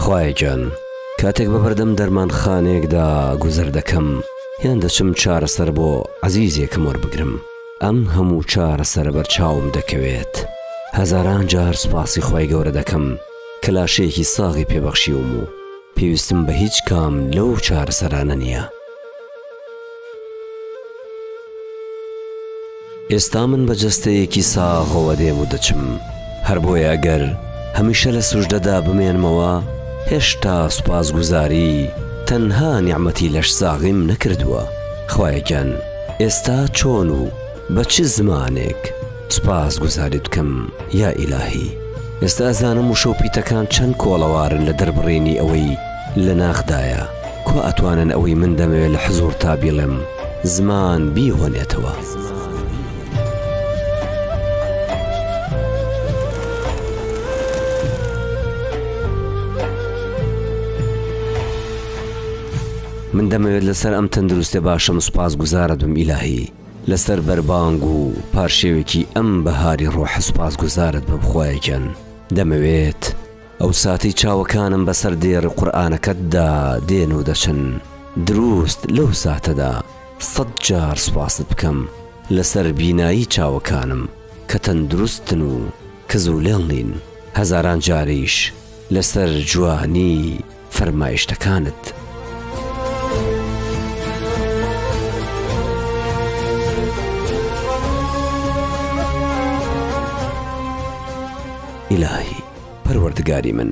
خوایە گیان کاتێک بە بەردەم دەرمانخانەیەکدا گوزەر دەکەم یان دەچم چارەسەر بۆ عەزیزێکم وەربگرم ئەم هەموو چارەسەرە بەرچاوم دەکەوێت هەزاران جار سوپاسی خوای گەورە دەکەم کە لاشەیەکی ساغی پێ بەخشیوم و پێویستم بە هیچ کام لەو چارەسەرانە نییە. ئێستا من بە جەستەیەکی ساغەوە دێم و دەچم، هەر بۆیە گەر هەمیشە لە سوژدەدا بمێنمەوە، هێشتا سوپاسگوزاری تەنها نیعمەتی لەشساغیم نەکردووە. خوایە گیان ئێستا چۆن و. بە چ زمانێک سوپاس گوزاریت بکەم یا ئیلاهی. ئێستا ئەزانم وشە و پیتەکان چەند کۆڵەوارن لە دەربڕینی ئەوەی لە ناخدایە، کوا ئەتوانن ئەوەی من دەمەوێ لە حزوورتا بیڵێم زمان بیهۆنێتەوە؟ من دەمەوێت لەسەر ئەم تەندروستێ باشەم سوپاس گوزارت بم ئیلاهی. لەسەر بەربانگ و پارشێوێکی ئەم بەهاری ڕۆحە سوپاسگوزارت بم خوایە گیان دەمەوێت ئەو ساتەی چاوەکانم بەسەر دێڕی قورئانەکەتدا دێن و دەچن دروست لەو ساتەدا سەد جار سوپاست بکەم لەسەر بینایی چاوەکانم کە تەندروستن و کزولێڵ نین هەزاران جاریش لەسەر جوانی فەرمایشتەکانت. ئیلاهی پەروەردگاری من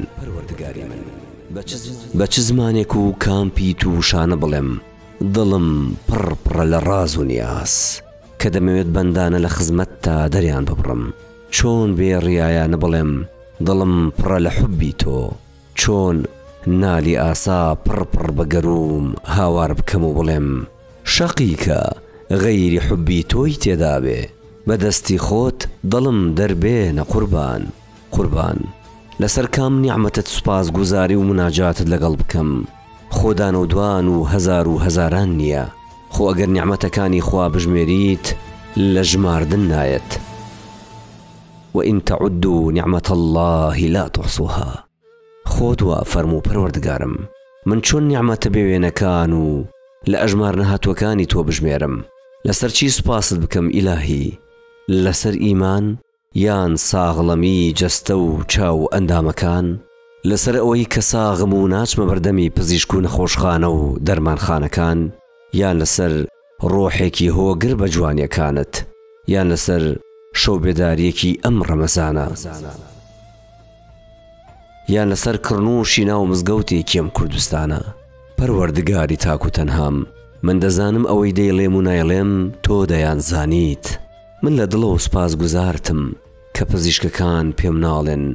بە چ زمانێک و کام پیت و شانە بڵێم دڵم پڕ پڕە لە ڕاز و نیاز کە دەمەوێت بەندانە لە خزمەتتا دەریان ببڕم چۆن بێ ڕیایانە بڵێم دڵم پڕە لە حوبی تۆ چۆن نالی ئاسا پڕ پڕ بە گەرووم هاوار بکەم و بڵێم. شەقیکە غەیری حوبی تۆی تێدابێ بە دەستی خۆت دڵم دەربێنە قوربان قوربان لەسەر کام نیعمەتت سوپاس گوزاری و مناجاتت لەگەڵ بکەم خۆ دان و دوان و هەزار و هەزاران نییە خۆ ئەگەر نیعمەتەکانی خوا بژمێریت لە ژماردن نایەت. وان تعدوا نعمة اللە لا تحصوها خۆت وا فەرموو پەروەردگارم من چۆن نیعمەتە بێ وێنەکان و لە ئەژمار نەهاتووەکانی تۆ بژمێرم لەسەر چی سوپاست بکەم ئیلاهی لەسەر ئیمان یان ساغڵەمی جەستە و چاو و ئەندامەکان لەسەر ئەوەی کە ساغم و ناچمە بەردەمی پزیشک و نەخۆشخانە و دەرمانخانەکان یان لەسەر ڕۆحێکی هۆگر بە جوانیەکانت یان لەسەر شەو بێداریەکی ئەم ڕەمەزانە یان لەسەر کڕنووشی ناو مزگەوتێکی ئەم کوردستانە پەروەردگاری تاک و تەنهام من دەزانم ئەوەی دەیڵێم و نایڵێم تۆ دەیان زانیت من لە دڵەوە سوپاس گوزارتم کە پزیشکەکان پێم ناڵێن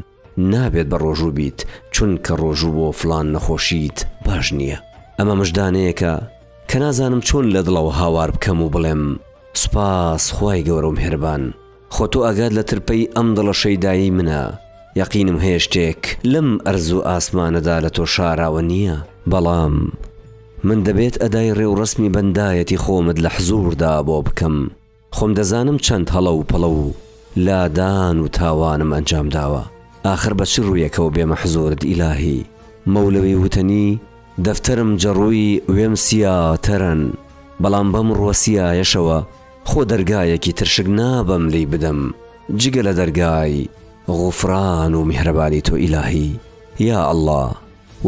نابێت بە ڕۆژوو بیت چونکە ڕۆژوو بۆ فڵان نەخۆشیت باش نییە ئەمە مژدانەیەکە کە نازانم چۆن لە دڵەوە هاوار بکەم و بڵێم سوپاس خوای گەورە و مهربان خۆ تۆ ئاگات لە ترپەی ئەم دڵە شەیدایەی منە یەقینم هەیە شتێک لەم ئەرز و ئاسمانەدا لە تۆ شاراوە نییە بەڵام من دەبێت ئەدای ڕێوڕەسمی بەندایەتی خۆمت لە حزووردا بۆ بکەم. خۆم دەزانم چەند هەڵە و پەڵە و لادان و تاوانم ئەنجام داوە، ئاخر بە چ ڕوویەکەوە بێمە حزوورت ئیلاهی؟ مەولەوی وتەنی، دەفتەرم جەڕووی وێم سیا تەرەن، بەڵام بەم ڕووە سیایەشەوە خۆ دەرگایەکی تر شک نابەم لێی بدەم جگە لە دەرگای غوفران و میهرەبانی تۆ ئیلاهی. یا ئەڵڵا!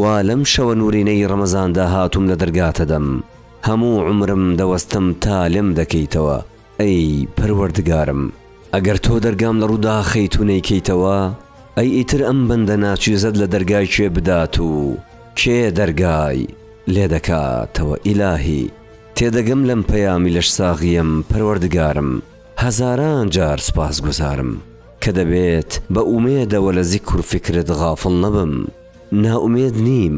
وا لەم شەوە نورینەی ڕەمەزاندا هاتووم لە دەرگاتە دەم هەموو عومرم دەوەستم تا لێم دەکەیتەوە ئەی پەروەردگارم ئەگەر تۆ دەرگام لە ڕوو داخەیت و نەیکەیتەوە ئەی ئیتر ئەم بەندە ناچیزەت لە دەرگای کێ بدات و کێ دەرگای لێ دەکاتەوە ئیلاهی تێدەگەم لەم پەیامی لەشساغیەم پەروەردگارم. هەزاران جار سوپاسگوزارم کە دەبێت بە ئومێدەوە لە زیکر و فیکرت غافڵ نەبم، نائومێد نیم،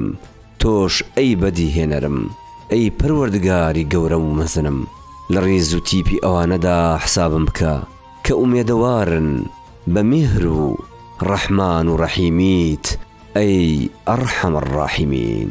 تۆش ئەی بەدیهێنەرم، ئەی پەروەردگاری گەورە و مەزنم، لە ڕیز و تیپی ئەوانەدا حسابم بکە کە ئومێدەوارن بە میهر و ڕەحمان و ڕەحیمیت ئەی ارحم الراحمین.